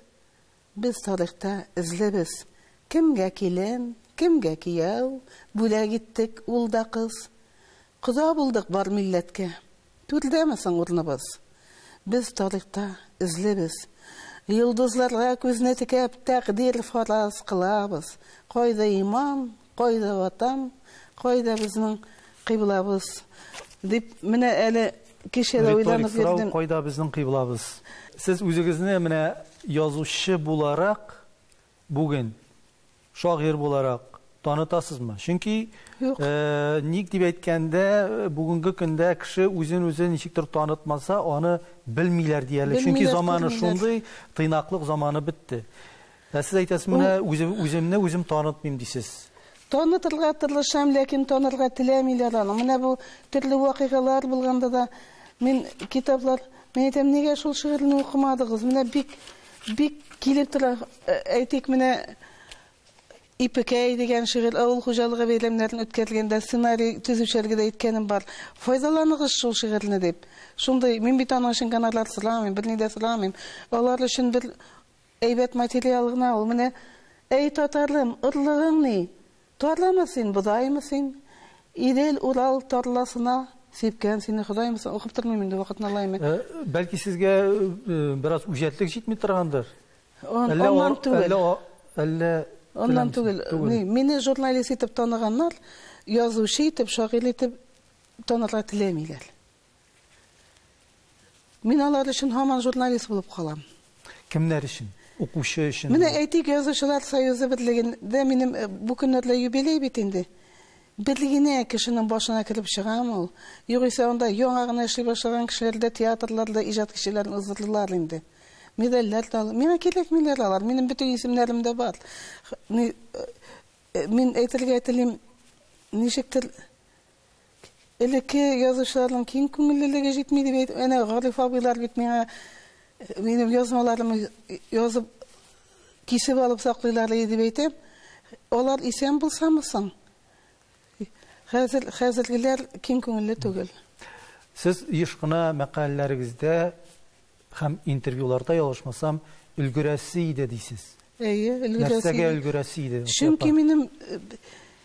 Без тарихта эзле без, Кемгә килен, кемгә кияү, Бүләк иттек ул да кыз. Кода булдык бар милләткә. Түрдәме соң урныбыз? Без тарихта эзлебез. Йолдызларга күзне текәп, тәкъдир фараз кылабыз. Кайда иман, кайда Ватан, кайда безнең кыйблабыз? дип, менә әле кичә дә уйланып йөрдем. Риторик сорау, кайда безнең кыйблабыз? Сез үзегезне менә язучы буларак бүген шагыйрь буларак танытасызмы? Чөнки Юк. Э, ник дип әйткәндә, бүгенге көндә кеше үзен үзе ничектер танытмаса, аны белмиләр диярлек. Чөнки заманы шундый, тыйнаклык заманы бетте. Ә сез әйтәсез, менә үзем, үземне үзем танытмыйм дисез. Танытырга тырышам, ләкин танырга теләмиләр аны. Менә бу төрле вакыйгалар булганда да мин китаплар, мин әйтәм, нигә шул шигырьне укымадыгыз? Менә бик Бик килеп тора. Әйтик, менә Ипекәй дигән шигырь, авыл хуҗалыгы бәйрәмнәрен үткәргәндә сценарий төзүчеләргә дә әйткәнем бар. Файдаланыгыз шул шигырьне дип. Шундый, мин бит аның өчен гонорар сорамыйм, берни дә сорамыйм. Алар өчен бер әйбәт материал гына ул. Менә, Әй татарым, орлыгың ни? Тарлымы син, бодаймы син, Идел, Урал тарласына Сипкән сине Ходаймы син? Укып тормыйм инде, вакытны алайм мин. Бәлки сезгә бераз үҗәтлек җитми торгандыр? Аннан түгел. Әллә Аннан түгел. Мине журналист итеп таныганнар, язучы итеп, шагыйрь итеп танырга теләмиләр. Мин алар өчен һаман журналист булып калам. Кемнәр өчен? Укучы өчен? Менә әйтик, Язучылар союзы берлегендә минем бу көннәрдә юбилей бит инде. Бер генә кешенең башына кереп чыгамы ул? Югыйсә анда яңа гына эшли башлаган кешеләр дә, театрлар да иҗат кичәләрен уздырдылар инде. Медальләр дә алып. Миңа кирәкмиләр алар, минем бөтен исемнәрем дә бар. Мин әйтергә телим, ничектер, Элекке язучыларның киң күңеллелеге җитми дип әйт. Әнә Гариф абыйлар бит миңа минем язмаларым язып кисеп алып саклыйлар иде дип әйтәм. Алар исән булсамы соң? Хәзер хәзергеләр киң күңелле түгел. Сез еш кына мәкаләләрегездә Һәм интервьюларда, ялгышмасам, өлгерәсе иде дисез. Әйе, өлгерәсе иде. Нәрсәгә өлгерәсе иде? Чөнки минем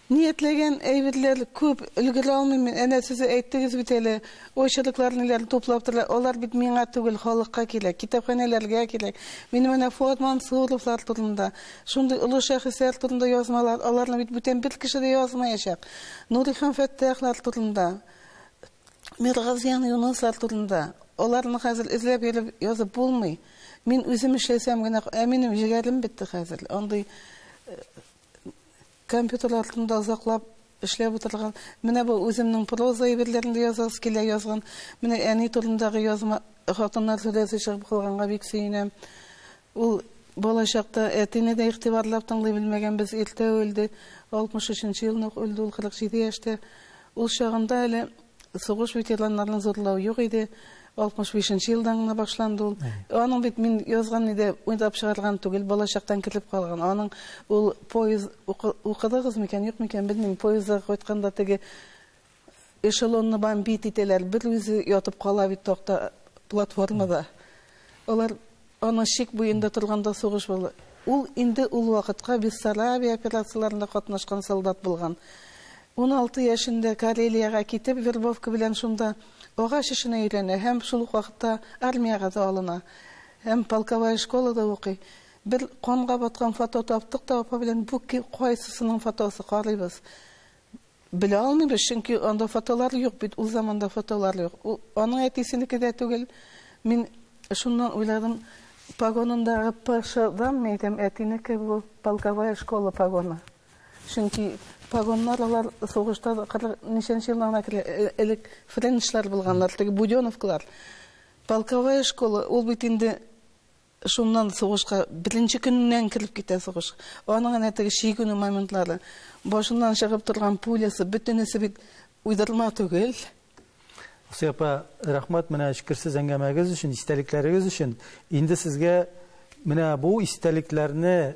ниятләгән әйберләр күп, өлгерә алмыйм мин. Әнә сез әйттегез бит әле, очерклар ниләрне туплап торалар. Алар бит миңа түгел, халыкка кирәк, китапханәләргә кирәк. Минем әнә Фуат Мансуровлар турында, шундый олы шәхесләр турында язмалар, аларны бит бүтән бер кеше дә язмаячак. Нурихан Фәттахлар турында. Миргазиян Юнуслар турында. Аларны хәзер эзләп йөреп язып булмый. Мин үзем эшләсәм генә, ә минем җегәрем бетте хәзер. Андый компьютер артында озаклап эшләп утырган. Менә бу үземнең проза әйберләрен дә язасы килә язган. Менә әни турындагы язма хатыннар сүрәсе чыгып калганга бик сөенәм. Ул балачакта әтине дә игътибарлап тыңлый белмәгән без иртә үлде. 63 нчы елны ук үлде ул 47 яшьтә. Ул чагында әле сугыш ветераннарын зурлау юк иде. 65 нче елдан гына башланды ул. Аның бит мин язган иде, уйлап чыгарган түгел, балачактан кертеп калган. Аның ул поезд укыдыгыз микән, юк микән, белмим, поездда кайтканда теге эшелонны бомбит итәләр, бер үзе ятып кала бит такта платформада. Алар Аның чик буенда торганда сугыш булды. Ул инде ул вакытка Бессарабия операцияләрендә катнашкан солдат булган. Уналты яшендә Карелиягә китеп, вербовка белән шунда агач эшенә өйрәнә һәм шул ук вакытта армиягә дә алына һәм полковая школада укый. Бер канга баткан фото таптык та апа белән бу кайсысының фотосы, карыйбыз. Белә алмыйбыз, чөнки анда фотолар юк бит, ул заманда фотолар юк. Ул аның әтисенеке дә түгел. Мин шуннан уйладым, погонындагы ПШ-данмы әйтәм, әтинеке бу полковая школа погоны. Чөнки погоннар алар сугышта кырык ничәнче елдан гына керә, э, элек френчлар булганнар, теге буденовклар. Полковая школа, ул бит инде Шуннан сугышка беренче көненнән кереп китә сугыш. Аның әнә теге чигенү моментлары, башыннан чыгып торган пулясы, бөтенесе бит уйдырма түгел. Асия апа, рәхмәт менә эчкерсез әңгәмәгез өчен, истәлекләрегез өчен. Инде сезгә менә бу истәлекләрне